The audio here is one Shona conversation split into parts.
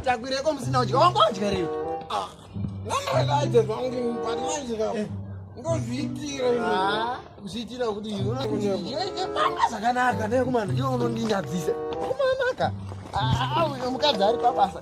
takwireko musina udya wanga wadya rei nanoelaje zvangu but manje ka ndozviitira zviitira kuti pamba zvakanaka nekumana iwe unondinyadzisa kumanaka mukadzi ari pabasa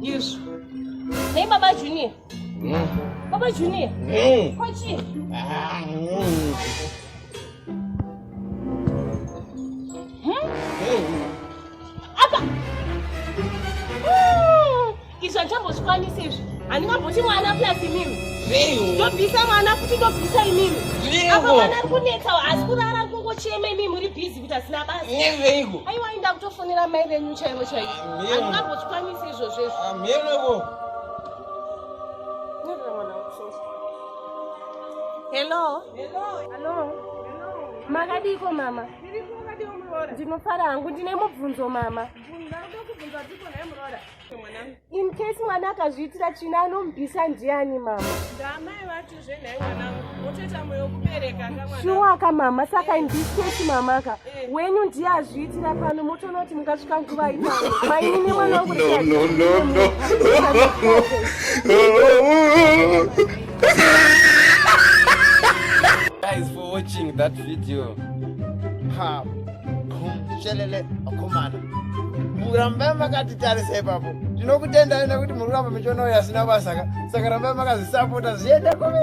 Yes. Nei baba Junior? Mm. Baba Junior? Mm. Kwa chii? Ah, mm. izvi handichambosikwanisi izvi handingamboti mwana plus imimi ndobvisa mwana futi ndobvisa imimi apa mwana ari kunetsa asi kurara kungochema imimi muri busy kuita zina basa nyeveiko aiwa inda kutofonera mai venyu chaivo chaivo handingambozvikwanisi izvozvo izvo amheneko hello hello makadiiko mama ndinofara hangu ndine mubvunzo mama in case mwana akazviitira tsvina anomubvisa ndiani mama ndaamai vacho zvenhai mwanangu otoita moyo kubereka shuwa ka mama saka in this case mama ka eh. wenyu ndiye azviitira pano motoona kuti mukasvika nguva itano mainini mwana wangu Guys, for watching that video. Ha. shelele akomana murambai makatitarisa ipapo tinokutendai nekuti muri kuramba michionayo yasina basa ka saka rambai makazvisapota zviende kove